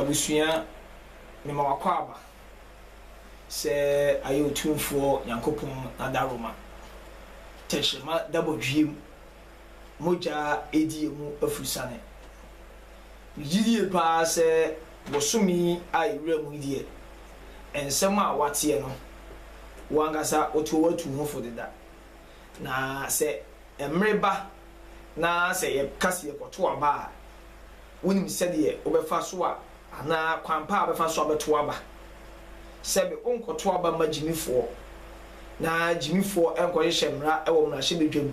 Abusua mema w'akwaaba sɛ ayɛ Otumfoɔ Nyankopɔn n'adaroma tɛkyerɛma da bɔdweam mogya adi emu afurusane. Megye die paa sɛ bosome yi a yɛwura mu yi deɛ nsɛm a woateɛ no wo ankasa wotoo atuu ho fo deda na sɛ Mmere ba na sɛ yɛka sɛ yɛkɔtow aba a, wunim sɛdeɛ wobɛfa so a anaa kwan pa a wobɛfa so abɛtow aba? Sɛbe wonkɔtow aba mma gyimifoɔ, na gyimifoɔ nkɔhyehyɛ mmara wɔ mmarahyɛbadwam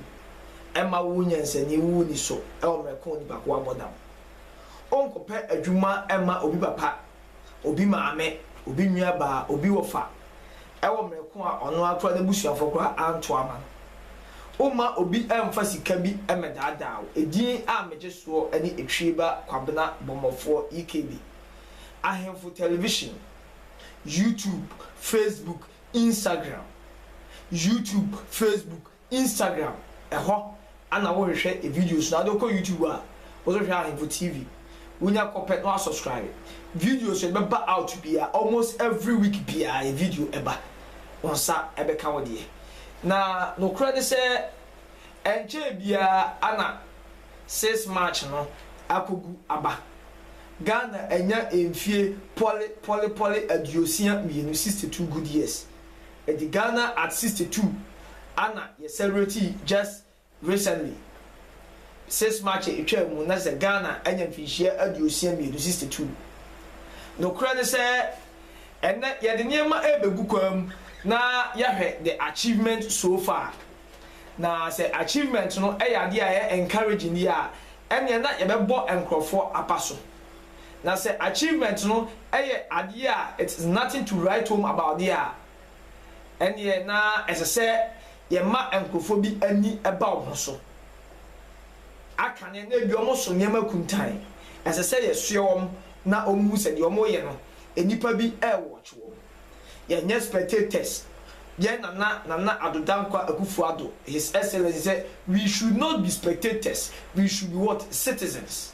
mma wo nyansani wo nni so wɔ mmerɛ ko a onipa ko abɔ dam. Wonkɔpɛ adwuma mma obi papa obi maame, obi nuabaa, obi wɔfa, wɔ mmerɛ ko a ɔno ara koraa n'abusuafoɔ koraa anto ama no. Womma obi mfa sika bi mmɛdaadaa wo. Edin a megye soɔ ne Etwieba Kwabena Bɔmmɔfoɔ EKB. Ahemfo Television, YouTube, Facebook, Instagram, YouTube, Facebook, Instagram ɛhɔ ana wo hwehwɛ videos no ade wokɔ YouTube a wo so hwɛ ahemfo TV wonya kɔpɛ na wa subscribe videos yɛde bɛba out bia almost every week bia yɛ video ɛba wo nsa ɛbɛka wo deɛ na nokorɛ ne sɛ ɛnkyɛɛ bia ana 6 March no akɔgu aba Ghana anya mfie pɔle pɔle pɔle aduosia mmienu 62 good years Ɛdi Ghana at sixty two ana yɛ celebrate yi just recently six March a etwaa mu na kyesɛ Ghana anya mfinhyia aduosia mmienu, sixty two. Nokorɛ ne sɛ ɛnɛ yɛde nneɛma rebegu kwaa mu na yɛahwɛ the achievement so far. Na sɛ achievement no yɛ adeɛ a ɛyɛ encouraging yi a ɛneɛ na yɛbɛbɔ nkorɔfoɔ apaso. Na sɛ achievement no yɛ adeɛ a it is nothing to write home about deɛ a, ɛnneɛ na ɛsɛ sɛ yɛma nkurɔfoɔ bi ani ba wo ho so. Akane no, ebia wɔn so nneɛma akuntan. Ɛsɛ sɛ yɛsoɛ wɔn na wɔhu sɛ deɛ wɔreyɛ no, nnipa bi rewatch wɔn. Yɛnyɛ spectators. Yɛn Nana, Nana Addo Dankwa Akufo-Addo, His Excellency, sɛ we should not be spectators, we should be what? Citizens.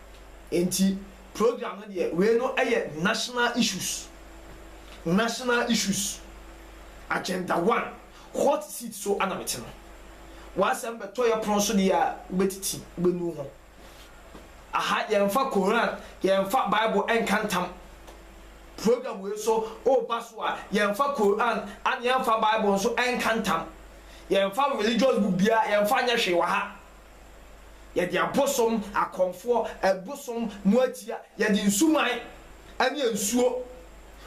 Nti program no deɛ wei no yɛ national issues national issues agenda one hot seat so ana mete no w'asɛm bɛtɔ yɛ pono so deɛ a wobɛtiti wobɛnu ho aha yɛmfa koran yɛmfa bible ɛnka ntam program wei so woba so a yɛmfa koran ane yɛmfa bible nso ɛnka ntam yɛmfa religious book biara yɛmfa nyɛ hwee wɔ ha Yɛde abosom, akɔmfoɔ, ɛbosom, moatia, yɛde nsuman ɛne nsuo,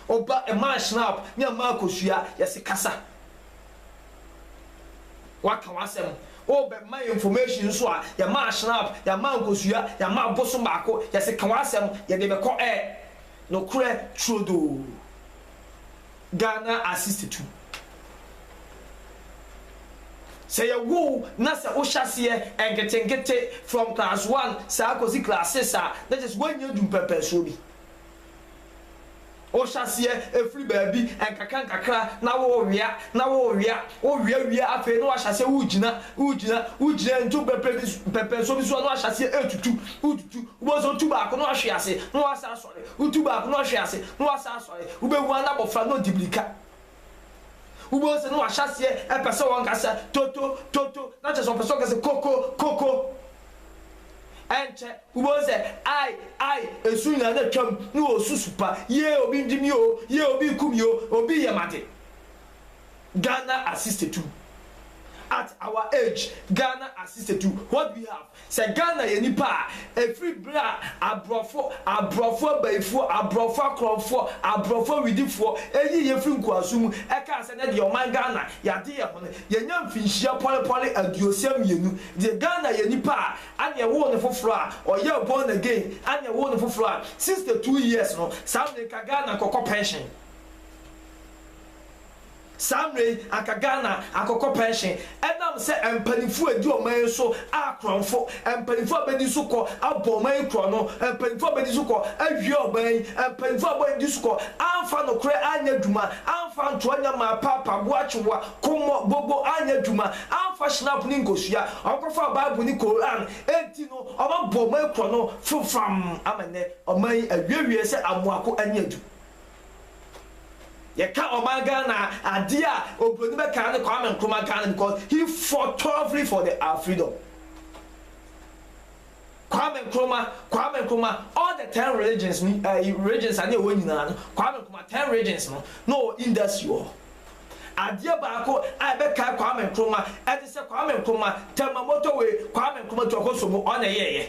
oba, ɛmaa shrub ne ɛmaa kosua, yɛse kasa. Waka w'asɛm, obɛ ma yɛn information nso a, yɛmaa shrub, yɛamaa nkosua, yɛamaa abosom baako, yɛse ka w'asɛm, yɛde bɛkɔ ɛ. Nokorɛ turodoo. Ghana assist to. Sɛ yɛ wo wo na sɛ wo hyɛaseɛ nketenkete from class one saa kɔsi class six a na kyerɛ sɛ woannya adu mpɛmpɛnsoɔ bi. Wo hyɛaseɛ ɛfiri baabi nkakra nkakra na wo wea na wo wea wo wea wie a afei na wahyɛaseɛ wo gyina wo gyina wo gyina ntu mpɛmpɛnsoɔ bi so a na wahyɛaseɛ ɛtutu wo tutu wobɛhu sɛ wotu baako na wahwe ase na wasan Wotu baako na ɔhwe ase, na wasan asɔre. Wubehu ara na abofra no redi mmirika. Wubehu sɛ na wahyɛ aseɛ repɛ sɛ ɔnka sɛ, Toto, toto, na kyerɛ sɛ ɔpɛ sɛ ɔka sɛ, Koko, koko. Ɛnkyɛ, wubehu sɛ, Ai, ai, ɛsu nyinaa na atwam, na ɔresu su pa, Yee, obi redi me oo, yee, obi reku me oo, obi reyɛ m'ade. Ghana assist to at our age Ghana assist to what do we have sɛ Ghana yɛ nipa a ɛfiri berɛ a abrɔfo abrɔfo abayifoɔ abrɔfo akorɔmfoɔ abrɔfo awidifoɔ ɛyii yɛ firi nkoasom mu ɛkaa sɛ nɛ deɛ ɔman Ghana yɛade yɛ ho no yɛnya mfinhyia pɔlepɔle aduosia mmienu deɛ Ghana yɛ nipa a ane ɛwoo no foforɔ a ɔyɛɛ born again ane ɛwoo no foforɔ a 62 years no saa mmerɛ ka Ghana kɔkɔ pension. Saa mmerɛ yi anka Ghana akɔkɔ pɛnhyen ɛnam sɛ mpaninfoɔ a ɛdi ɔman yi so a korɔnfo, mpaninfoɔ a bɛdi so kɔ abɔ ɔman yi korɔno, mpaninfoɔ a bɛdi so kɔ awia ɔman yi, mpaninfoɔ a bɔdi so kɔ amfa nokorɛ anyɛ adwuma, amfa ntoa nya mmaa, paapa, boakyewa, kommɔ, gogo anyɛ adwuma, amfa shinap ne nkosua, ɔmkɔfaa bible ne Koran, enti no ɔmabɔ ɔman yi korɔno fofam ama nnɛ ɔman yi awiawiaɛ sɛ amoako ani adu. Yɛka ɔman Ghana a, adeɛ a obroni bɛka ara ne Kwame Nkrumah Ghana because he fought tougly for the our freedom. Kwame Nkrumah, Kwame Nkrumah, all the ten religions ni ɛyi eh, regions a ne ɛwɔ nyinaa no, Kwame Nkrumah ten regions no na ɔwɔ industry wɔ hɔ. Adeɛ baako a ɛbɛkae Kwame Nkrumah ɛte sɛ Kwame Nkrumah Tema motorway, Kwame Nkrumah Tuakosomo ɔna ɛyɛɛyɛ.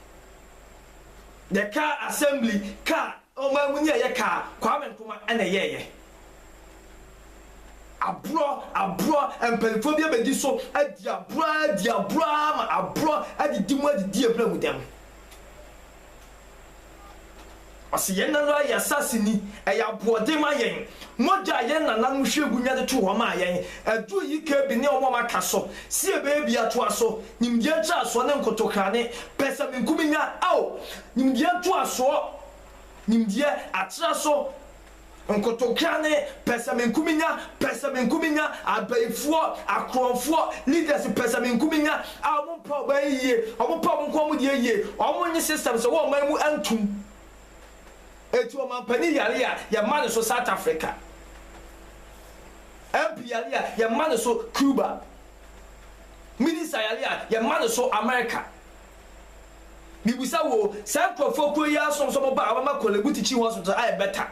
Yɛ kaa assembly kaa ɔman mu ni ɛyɛ kaa Kwame Nkrumah ɛna ɛyɛɛyɛ aborɔ aborɔ mpaninfoɔ bi abɛdi so adi aborɔ ara adi aborɔ ara ama aborɔ adidi mu adidi abura mu dɛm. Ɔse yɛn ara yɛ asase ni, ɛyɛ aboɔden ma yɛn. Mogya a yɛn nananom hwie gu nya de to hɔ maa yɛn, aduru yi ka bi ne wɔn a wɔaka so se yɛbɛyɛ bi atoa so. Nimdeɛ ntrasoɔ ne nkotokrane, pɛsɛmenkominya, ao! Nimdeɛ ntoasoɔ, nimdeɛ, atra so, Nkotokea ne pɛsɛmenkominya, pɛsɛmenkominya, abayifoɔ, akorɔmfoɔ, leaders pɛsɛmenkominya a wɔn mpɛ ɔman yi yie, wɔn pɛ wɔn nko wɔn deɛ yie, wɔn nye systems ɛwɔ ɔman mu ntom. Eti ɔmanpanin yare a yɛ mma ne so South Africa, MP yare a yɛ mma ne so Cuba, minister yare a yɛ mma ne so America, Mibisa wo o, saa nkurɔfoɔ kuo yi ara som sɛ wɔn ba a wɔbɛma Korle Bute Chi Hospital ayɛ better,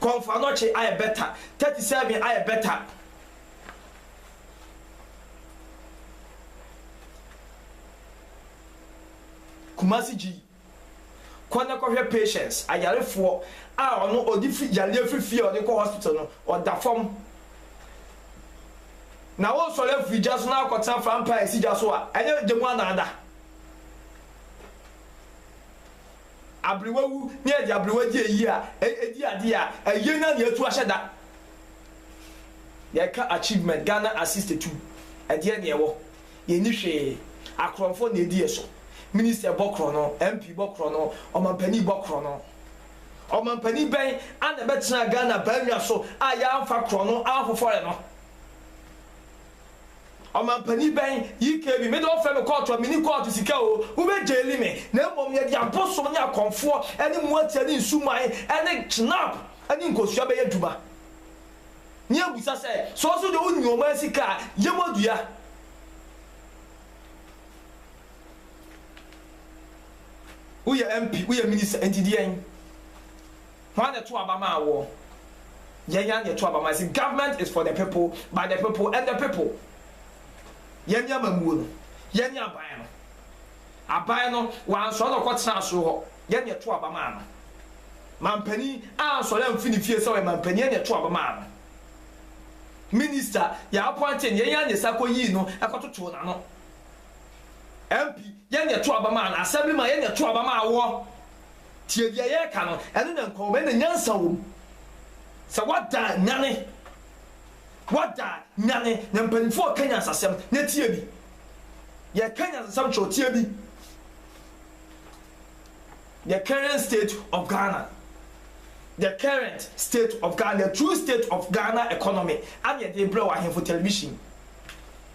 Komfo Anokye ayɛ better, Thirty Seven ayɛ better. Kumasi Gyi, kɔ na kɔhwɛ patients, ayarefoɔ a ɔno ɔde fi yareɛ firi fie a ɔde kɔ hospital no, ɔda fam. na wosɔre afiri gya so na akɔtena frampa a esi gya so a, ɛnyɛ gya mu anaada. Aberewawu ne ɛde aberewa gye eyi a egye ade a ɛyɛ na nea atu ahyɛ da. Yɛka achievement Ghana assist tu ɛdeɛ na ɛwɔ yɛnni hwee akorɔmfo na edi yɛ so minister bɔ korɔno MP bɔ korɔno ɔmampanin bɔ korɔno. Ɔmampanin bɛn ara na ɛbɛtenaa Ghana baannwa so a yɛamfa korɔno anhofɔre no? Ɔmampanin bɛn, YKB, me de wɔfrɛ me kɔɔto a menni kɔɔto sika oo, wobɛgyeeli me, na mmom yɛde abosom ne akɔmfoɔ ne mmoatia ne nsumae ne kyenap ne nkosua bɛyɛ adwuma? Ne yɛbisa sɛ, sɛ wo nso deɛ wonyi ɔman sika a, yɛ mu adua? Woyɛ MP, woyɛ minister, nti deɛn? Hwan na ɛto aba maa woɔ? Yɛn ara na yɛto aba maa. See, government is for the people, by the people, and the people. Yɛne amammuo no, yɛne aban no. Aban no, wansɔre na ɔkɔtenaa soro hɔ, yɛn na yɛto aba maa no. Mampanin ansɔre amfi ne fie sɛ ɔyɛ mampanin, yɛn na yɛto aba maa no. Minister, yɛapɔnte no, yɛn ara na yɛsan kɔyii no kɔtotoo n'ano. MP, Yɛn na yɛto aba maa no, Assemblyman, Yɛn na yɛto aba maa woɔ. Tie deɛ yɛreka no, ɛno na nkɔmmɔ, ɛno na nyansa wɔ mu. Sɛ woada a, nyane. Woada a, nyane, na mpanimfoɔ reka nyansasɛm, na tie bi. Yɛreka nyansasɛm kyerɛ wo, tie bi. The current state of Ghana. The current state of Ghana, the true state of Ghana economy, ɛna yɛde rebrɛ wo, Ahemfo Television.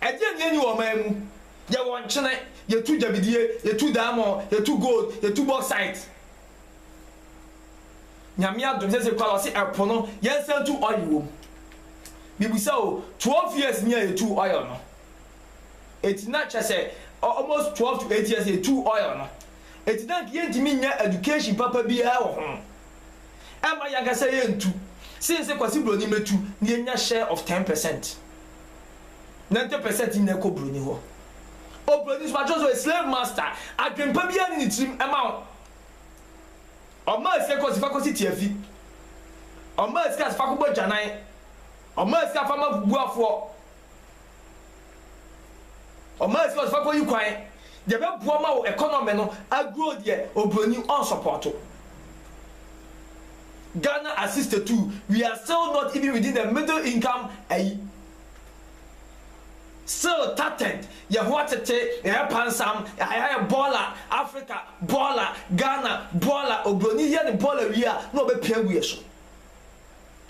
Ɛdeɛn na yɛnni wɔ ɔman mu? Yɛwɔ nkyene, yɛtu gyabidie, yɛtu diamond, yɛtu gold, yɛtu bauxite. Nyame adom sɛsɛ koraa wɔse ɛpo no yɛnsan tu oil wɔ mu. Mebisa o, 12 years nie a yɛtuu oil no. Enti na kyerɛ sɛ almost 12 to 8 years yɛtuu oil no. Enti na nka yɛntumi nnya education papa biara wɔ ho. Ɛmma yɛn ankasa yɛntu. Since Kwasi Broni mmɛtu na yɛnya share of ten percent. Nante pɛ sɛ ɛte nɛ kɔ broni hɔ o broni so pakyɛw so yɛ slave master adwenpa biaa ne ne tirim ɛma wo ɔmaa sika kɔ si fa kɔ si tiafi ɔmaa sika si fa kɔ bɔ agyanan ɔmaa sika fa ma bubuafoɔ ɔmaa sika si fa kɔ yi kwan deɛ bɛ boɔ ma wo economy no agro deɛ o broni ɔn sɔpɔto Ghana as 62 we are still not even within the middle income ayi. Sale Tatent yɛ ho atete, ɛyɛ pansam, ayɛ bɔɔla, Afrika bɔɔla, Ghana bɔɔla, oburoni yɛ ne bɔɔla wie a na ɔbɛpia agu yɛ so.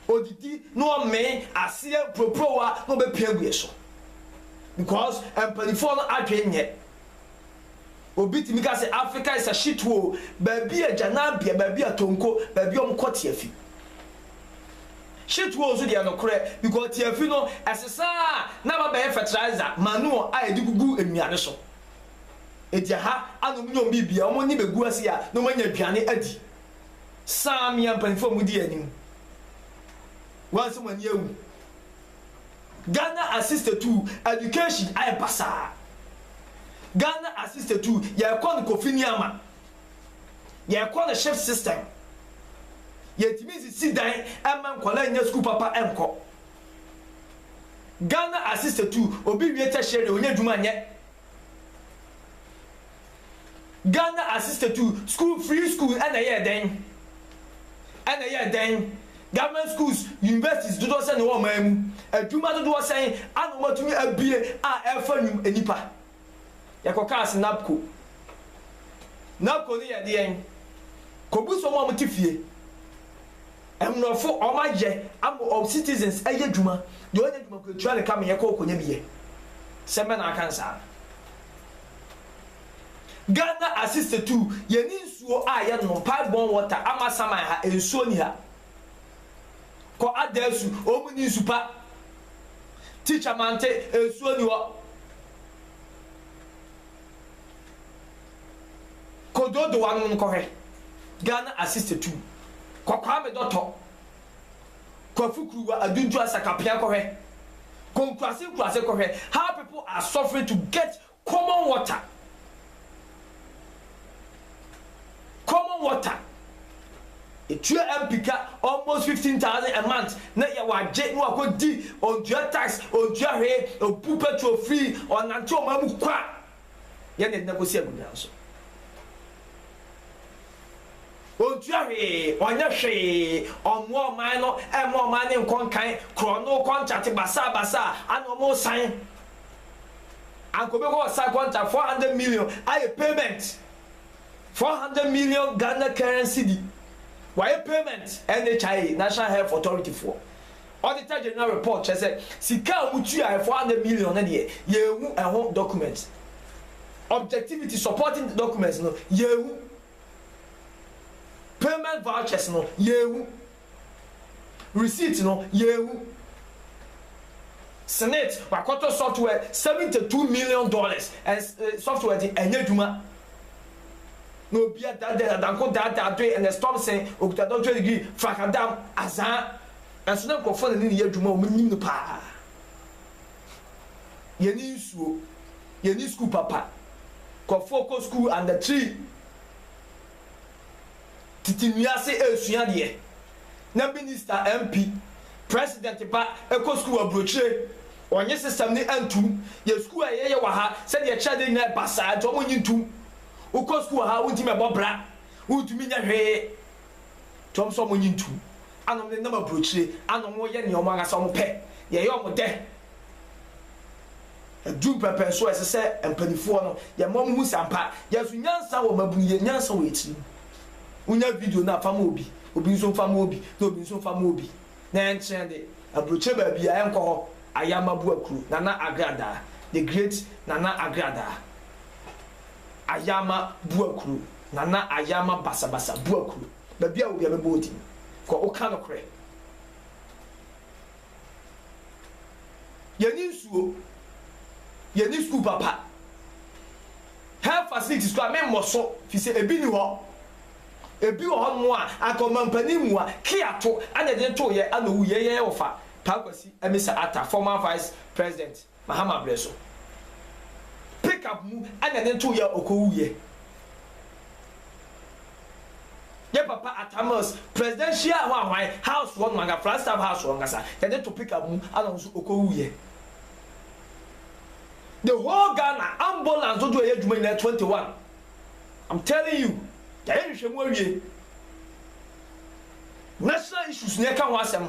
Ɔdidi na ɔmee, aseɛ, mpuropurowa na ɔbɛpia agu yɛ so because mpaninfoɔ no adwene nyɛ. Obi tumi ka sɛ Africa is a shit hole, baabi a gyanabea, baabi a tonko, baabi a wɔkɔ tiafi. Shit hole nso deɛ nokorɛ because tiafi no ɛsesa a na aba bɛyɛ fertilizer, manure a yɛde gugu nnuane so. Enti ɛha a na wɔnya wɔn biribi a wɔn ani bɛgu ase a na wɔanya aduane adi. Saa mmea mpanyinfoɔ a modi yɛn anim, wɔn a sɛ mo ani awu. Ghana assisted to education ayɛ basaa. Ghana assisted to yɛkɔ no Kofi Nneama, yɛkɔ no shift system. Yɛntumi nsisi dan mma nkwadaa nnya sukuu papa nkɔ. Ghana assisted to obi wie tertiary ɔnya adwuma nyɛ. Ghana assisted to school free school ɛna ɛyɛɛ dɛn ɛna ɛyɛɛ dɛn Government schools universities dodoɔ sɛn na ɛwɔ ɔman mu adwuma dodoɔ sɛn ana wɔn atumi abue a ɛfa nnwum nnipa yɛkɔ kaa se NABCO NABCO no yɛ deɛn kɔbu sɛ wɔn a wɔn te fie mmorɔfo wɔn ayɛ ama wɔn citizens ɛyɛ adwuma deɛ ɔnyɛ adwuma kɔ atua ne ka me yɛkɔ ɔkɔnya bi yɛ sɛ mɛ na aka nsaa. Ghana asista tu yɛn nsuo a yɛ nom pipe borne water ama saman ha nsuo ni ha kɔ adasu ɔmu ni nsu pa teacher mante nsuo ni hɔ kɔ dodowa nom kɔ hwɛ Ghana asista tu kɔ kwame dɔtɔ Kwafu Kuruwa Aduntu Asakapea kɔhwɛ, Konkurase Nkurase kɔhwɛ how people are suffering to get common water, common water etua MP ka almost fifteen thousand a month na yɛ wagye na wakɔ di ɔntua tax ɔntua hwee ɔbu petrol free ɔnante ɔman mu kwa. yɛ ne nna kosi agunnyan so. Ontua hwee, ɔnyɛ hwee, ɔmmoa ɔman no, ɛmma ɔman no nkɔ nkan, korɔno kɔntrate basaa basaa a na wɔresan. Anka obi kɔ ɔsan kɔntrate four hundred million ayɛ payment, four hundred million Ghana current cedi, wayɛ payment NHIA, National Health Authority foɔ. Auditor General report kyerɛ sɛ sika a wotuae, four hundred million no deɛ, yɛanhu ɛho document. Objectivity supporting the documents no, yɛanhu. Payment vouchers no, yɛanhu. Receipt no, yɛanhu. Senate, wɔakɔtɔ software seventy two million dollars, software de ɛnyɛ adwuma. Na obiara daadaa, Danko daadaa, Doe, Ernest Thompson, ɔkuta doctorate degree, Frakadam, Azaa. Nanso na nkurɔfo a na ne ne yɛ adwuma a wɔnim no paa. Yenni nsuo, yenni sukuu papa. Nkurɔfoɔ kɔ sukuu under tree, tete nnua ase resua adeɛ. Na minista, MP, president ba kɔ sukuu wɔ aburokyire, ɔnnye system no ntom. Yɛ sukuu a yɛyɛ wɔ ha, sɛdeɛ yɛkyerɛ adeɛ nyinaa yɛ basaa nti wɔnnye ntom. Wokɔ sukuu wɔ ha a, wontumi mmɛbɔ bra, wontumi nyɛ hwee. To wɔn so a wɔnye ntom, a na wɔnenam aburokyire, a na wɔyɛ nea wɔn ankasa wɔpɛ, nea ɛyɛ wɔn dɛ. Edu mpɛmpɛn so a, ɛsɛ sɛ mpanimfoɔ no, yɛma wɔn hu sɛ ampa, yɛn nso nyansa wɔ mmabunu yɛ, nyansa wɔ yɛn tirim. Wonya video no a, fa ma obi, obi nso mfa ma obi, na obi nso mfa ma obi, na ɛnkyɛn de, aburokyire baabiara ɛnkɔ hɔ, Ayama Buakuro, Nana Agradaa, The Great Nana Agradaa, Ayama Buakuro. Nana Ayama Basabasa Buaku baabi a wɔ biara mɛbɔ wo din kɔ wo ka nokorɛ yɛnni nsuo yɛnni sukuu papa health facilities kora me mmɔ so fi sɛ ebi ni hɔ ebi wɔ hɔ nom a anka ɔmampanin mua kia to ana ɛde too yɛ ana owu yɛ yɛ yɛ wɔ fa paa kwasi amisa ata former vice president Mahama brɛ so pick up mu ɛna ne too yɛ a ɔkɔwu yɛ yɛ papa Atta Mills presidential hɔ ahwan house hɔ nom anka Flagstaff house hɔ ankasa yɛ de to pick up mu ɛna ɔno nso ɔkɔwu yɛ the whole Ghana ambulance dodoɔ yɛ adwuma nyinaa 21 I'm telling you yɛayɛ nhwehwɛmu awie national issues na yɛka ho asɛm.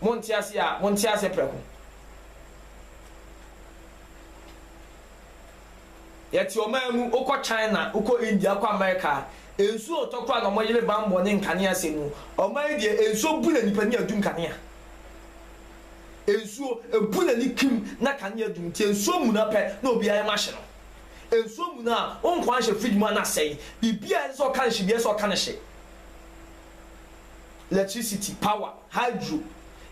Monte aseɛ a, monte aseɛ prɛko. Yɛte ɔman mu, wokɔ China, wokɔ India, wokɔ America a, nsuo a wɔtɔ koraa na wɔyere bammɔ ne nkanea sɛn mu. Ɔman yi deɛ, nsuo bu n'ani pɛ na ɛdum kanea. Nsuo, ɛbu n'ani kim na kanea dum. Nti nsuo muna pɛ na obiara yam ahye no. Nsuo muna a, wo nkwa nhyɛ fridge mu a na asɛe. Biribiara a ɛsɛ sɛ wɔka no hye biara, ɛsɛ sɛ wɔka no hye. lectricity, power, hydro,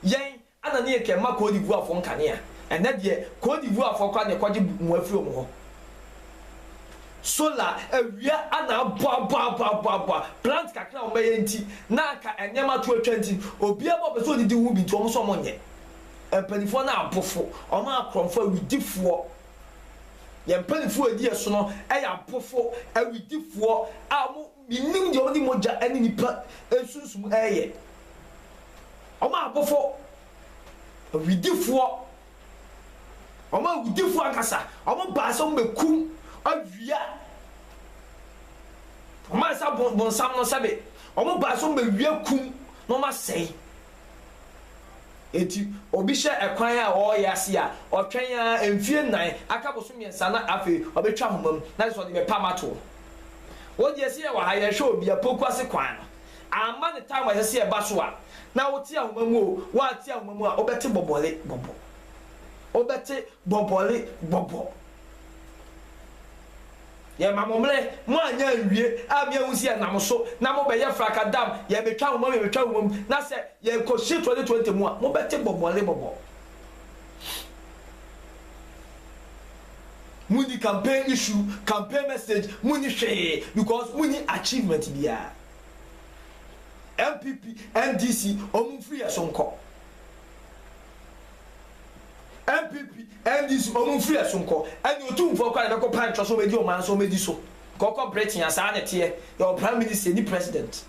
yɛn ana ne yɛkɛ ma Côte d'Ivoire foɔ nkanea, ɛnɛ deɛ Côte d'Ivoire foɔ koraa na ɛkɔgye mua firi wɔn hɔ, solar, awia ana aboaboaboaboa, plant kakra a wɔn bɛyɛ nti na anka nneɛma to atwa nti obiara bɔ ɔpɛ sɛ ɔdidi ho bi nti wɔn nso wɔn nyɛ, mpaninfoɔ no abofo, wɔn akorɔmfoɔ, awidifoɔ, yɛn mpaninfoɔ a ɛdi yɛn sono yɛ abofo, awidifoɔ a wɔn. Minnim deɛ wɔde mogya ne nnipa nsunsum reyɛ. Wɔn a abɔfo, awidifoɔ, wɔn awudifoɔ ankasa, wɔbaa sɛ wɔbɛkum awia wɔn ansa bonsam no sɛbe, wɔbaa sɛ wɔbɛwia kum na wɔasɛe. Enti obi hyɛ ɛkwan a ɔreyɛ ase a, ɔtwɛn ara mfie nnan, aka boso mmiɛnsa na afei ɔbɛtwa ahoma mu na kyerɛ sɛ ɔde bɛpam atoɔ. Wogye sɛ yɛwɔ ha yɛrehwɛ obi apoku ase kwan no. Amma ne time a ɛsɛ sɛ yɛba so a na wote ahoma mu o, woante ahoma mu a wobɛte bɔbɔle bɔbɔ. Wobɛte bɔbɔle bɔbɔ. Yɛma mo mmerɛ, moanyɛ anwie a me ahu sɛ yɛnam so na mobɛyɛ frakadam, yɛbɛtwa ahoma mu, yɛbɛtwa ahoma mu, na sɛ yɛkɔhyɛ 2020 mu a mobɛte bɔbɔle bɔbɔ. Munni campaign issue, campaign message, munni hwee because munni achievement biara. NPP, NDC, wɔn mfiri yɛn so nkɔ. NPP, NDC, wɔn mfiri yɛn so nkɔ. Ɛne otumfoɔ kɔ a yɛbɛkɔ pan twɛ so wɔn adi ɔman so wɔn adi so. Kɔkɔ Britain a saa na ɛteɛ, yɛwɔ prime minister, yɛnni president.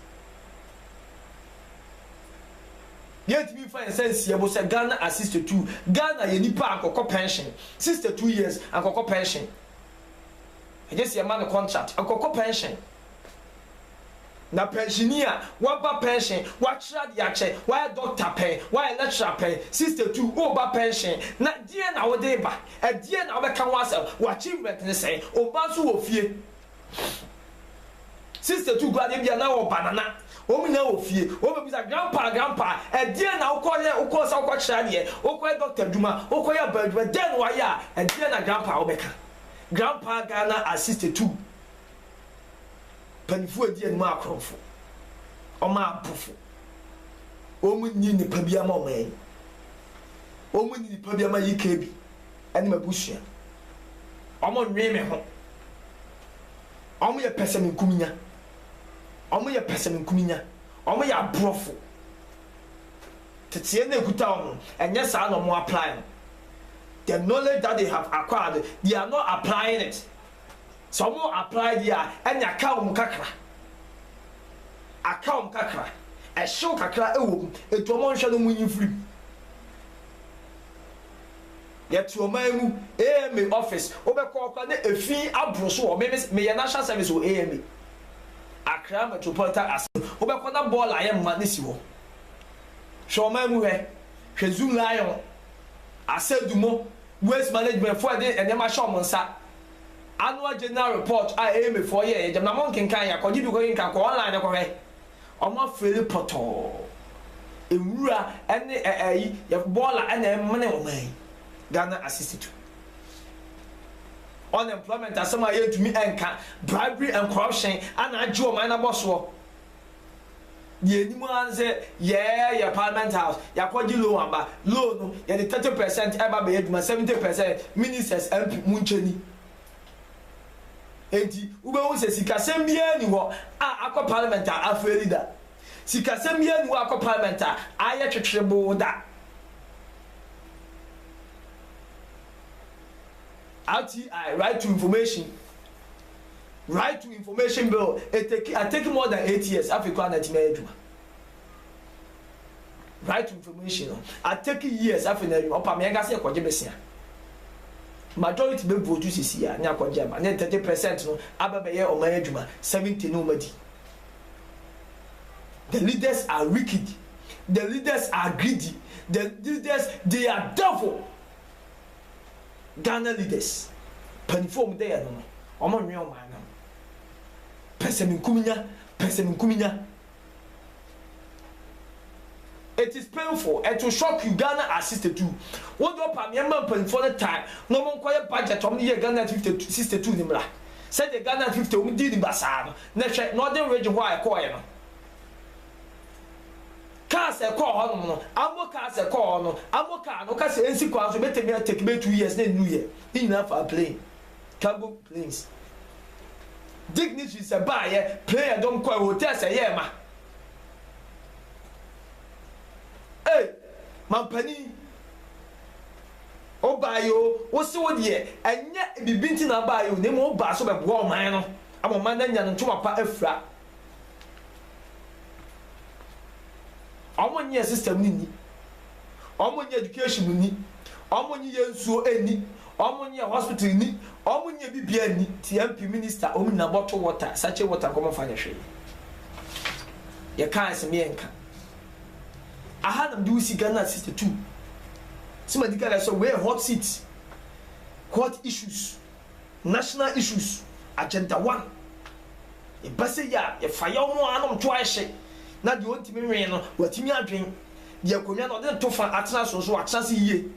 Yɛntumi mfa yɛn nsa nsi ɛbo sɛ Ghana a sister tu. Ghana yɛ nipa a ankɔkɔ pɛnhyen. Sister two years ankɔkɔ pɛnhyen. Ɛnyɛ sɛ yɛma no contract, ankɔkɔ pɛnhyen. Na pɛnhyeni a waba pɛnhyen, wakyerɛ adeɛ akyɛ, wayɛ doctor pɛn, wayɛ lecturer pɛn, sister two woba pɛnhyen na deɛn na wode reba? Ɛdeɛn na wobɛka ho asɛm? W'achievement ne sɛn? Wo mma nso wɔ fie. Sister tu gu adeɛ bi a na wɔ banana wɔn nyinaa wɔ fie wɔn bɛ bisa grandpa grandpa ɛdeɛn na wokɔ yɛ wokɔ sɛ wokɔ kyerɛ adeɛ wokɔ yɛ doctor adwuma wokɔ yɛ abaa adwuma deɛn na wayɛ a ɛdeɛn na grandpa a wɔbɛka grandpa Ghana a sister tu panifoɔ adi anim akorɔmfo wɔn abofo wɔn nyi nipa bi ama wɔn wɔn nyi nipa bi ama yi kɛ bi. ne m'abusua. Wɔnnwen me ho. Wɔyɛ pɛsɛmenkominya. Wɔyɛ pɛsɛmenkominya. Wɔyɛ aborɔfo. Teteyɛ no a ɛkuta wɔn no, ɛnyɛ saa na wɔn apply no. The knowledge that they have acquired, they are not applying it. Sɛ wɔn apply deɛ a, ɛnneɛ aka wɔn kakra. Aka wɔn kakra. Ɛhyew kakra wɔ mu. Enti wɔnhwɛ no, wɔnyi mfiri mu. Yɛte ɔman mu, AMA office, wobɛkɔ hɔ koraa na efi aboro so wɔ hɔ. Me me meyɛ national service wɔ AMA, Accra Metropolitan Assembly, wobɛkɔ na bɔɔl a ɛyɛ mma no si hɔ. Hwɛ ɔman mu hwɛ, hwɛ Zoo Lion, Asadumo, Waste Management foɔ a yɛde nneɛma hyɛ wɔn nsa, Annual General Report a AMA foɔ yɛeɛ, gyama monkenkan, yɛ a, kɔgye bi kɔkenkan, kɔ online kɔhwɛ. Wɔafiri pɔtɔɔ. Nwura ne ɛ ɛ yi yɛ bɔɔla na ɛmene wɔn yi. Ghana Asistitu. Unemployment asɛm a yɛntumi nka, bribery and corruption na agye wɔn no abɔ soɔ. Deɛ ɛnim ara ne sɛ yɛɛ yɛ parliament house, yɛakɔgye loan aba, loan no yɛde 30 percent ɛba bɛyɛ adwuma, 70 percent ministers, MP, monkyɛ ni. Enti wobɛhu sɛ sikasɛm biara nni hɔ a akɔ parliament a afeeli da. Sikasɛm biara nni hɔ a akɔ parliament a ayɛ twetweboo da. RTI, Right to Information, Right to Information Bill, etake, atake more than eight years, afei koraa na atumi ayɛ adwuma. right information no a take years afei na adwuma ɔpa mmiɛnka sɛ ɛkɔgye besia majority bɛ vote sisi a ne akɔgye ama ne thirty percent no abɛ bɛyɛ ɔman adwuma seventy no ɔmadi the leaders are wicked the leaders are greedy the leaders they are devil Ghana leaders panifo ɔmo dɛ yɛ no no ɔmo nwe ɔman no pɛsɛminkuminya pɛsɛminkuminya It is painful and to shock you Ghana are sixty two wo de ɔpam yɛn ma mpanyinfoɔ no tan na wɔn nkɔ yɛ budget wɔn de yɛ Ghana fifty two sixty two ne mmra sɛdeɛ Ghana fifty wɔn dii ne basaa no na hwɛ Northern region hɔ a ɛkɔɔ yɛ no cars ɛkɔɔ hɔ nom no ammo cars ɛkɔɔ hɔ no ammo car no woka sɛ ɛnsi kwan so ɛbɛtɛmi atake bɛ two years na ɛnnu yɛ ne nyinaa faa plane. Cargo planes. Dignitaries baeɛ, prayer dɔm kɔɛ, hotels ɛyɛɛ ma. Ei, mampanin, wobaeɛ o, wo se wo deɛ, ɛnyɛ biribi nti na wobaeɛ o, na mmom wobaa sɛ wobɛboa ɔman no, ama ɔman no anya ne ntoma pa afira. Ɔmo nyɛ system no nni. Ɔmo nyɛ education nni. Ɔmo nye yɛ nsuo nni. Ɔmo nyɛ hospital nni. Ɔmo nyɛ bibia nni. Nti MP, minister, ɔmo nyinaa bottle water, sachet water nko ɔmo nfa nyɛ hwee. Yɛ kaa ɛse me yɛ nka. Aha na mede wo si Ghana sixty two. Se ma di kan asɛ wei yɛ hot seat. Hot issues. National Issues, Agenda One. Ɛba sɛ yi a, yɛfa yaw mu ara na ɔto ara hyɛ, na deɛ ɔntumi nwɛn no, watumi adwen. Deɛ akonnwa no ɔde ne to fa atena so nso, watena ase yie.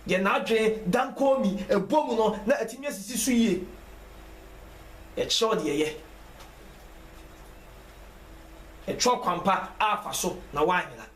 Deɛ n'adwen dan koommi, ɛbɔ mu no, na atumi asisi so yie. Yɛkyerɛw deɛ ɛyɛ. Ɛkyerɛw kwan pa a fa so na woanyera.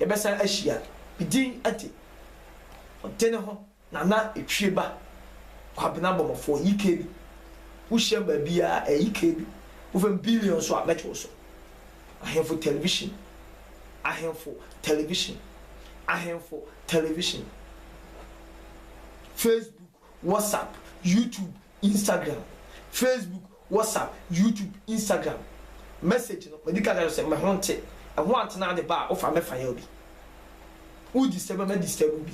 yɛbɛsan ahyia. Me din de, Ɔdene ho Nana Etwieba Kwabena Bɔmmɔfoɔ, YKB. Wohyiam baabiara a, ɛyɛ YKB. Wofam billion nso a, mɛto wo so. Ahemfo Television, Ahemfo Television, Ahemfo Television, Facebook, WhatsApp, YouTube, Instagram, Facebook, WhatsApp, YouTube, Instagram message no madi kan ka kyerɛ wo sɛ me ho nte, ɛho antena ade ba a wofa mɛfa yɛ obi. Wo disturb a mɛ disturb wo bi.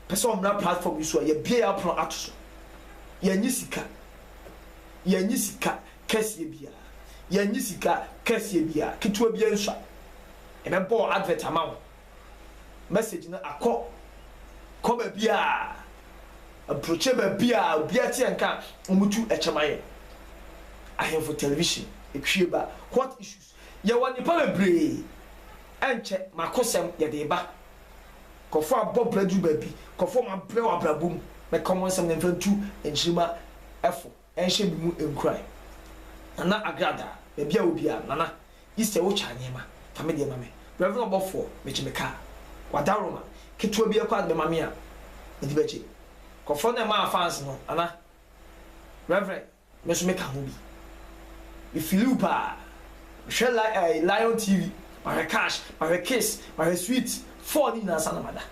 Pɛ sɛ ɔmmra platform yi so a yɛabue yɛn apono ato so. Yɛnnye sika. Yɛnnye sika kɛseɛ biara. Yɛnnye sika kɛseɛ biara. Ketewa biara nsua. Yɛbɛbɔ advert ama wo. message no akɔ kɔ baabi a aburokyire baabi a obiara te yɛn nka a wɔtu kyɛ ma yɛn. Ahemfo Television epue ba What issues? Yɛwɔ nnipa bebree ɛnkyɛ m'akosɛm yɛde reba Nkurɔfoɔ abɔ bra duru baabi Nkurɔfoɔ wɔabrɛ wɔ abrabɔ mu Mɛka wɔn nsɛm na mfa ntu nkyirimma fo. Ɛnhyɛ me mu nkuran. Nana Agrada, baabi a wɔ biara, Nana, Easter wo twa nneɛma, fa me deɛ ma me. Rev. Ɔbɔfoɔ, mekye me kaa. W'adawroma, ketewa bi ɛkɔ a de bɛma me a, me de bɛgye. Kɔfɔɔ no ɛmaa fans no, Nana, Rev. Me nso me ka ho bi. Me feeli wo paa. Me hwɛ li ɛɛ Lion TV, mahwɛ Cash, mahwɛ Kiss, mahwɛ Sweet, four no nyinaa ansa na mada.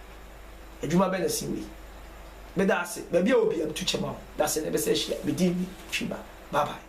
Adwuma bɛ na ɛsen wei. Meda ase. Baabi a wɔ biara metu kyɛ ma wo. Dase na yɛbɛsan ahyia. Me din ne Twiba. Bye bye.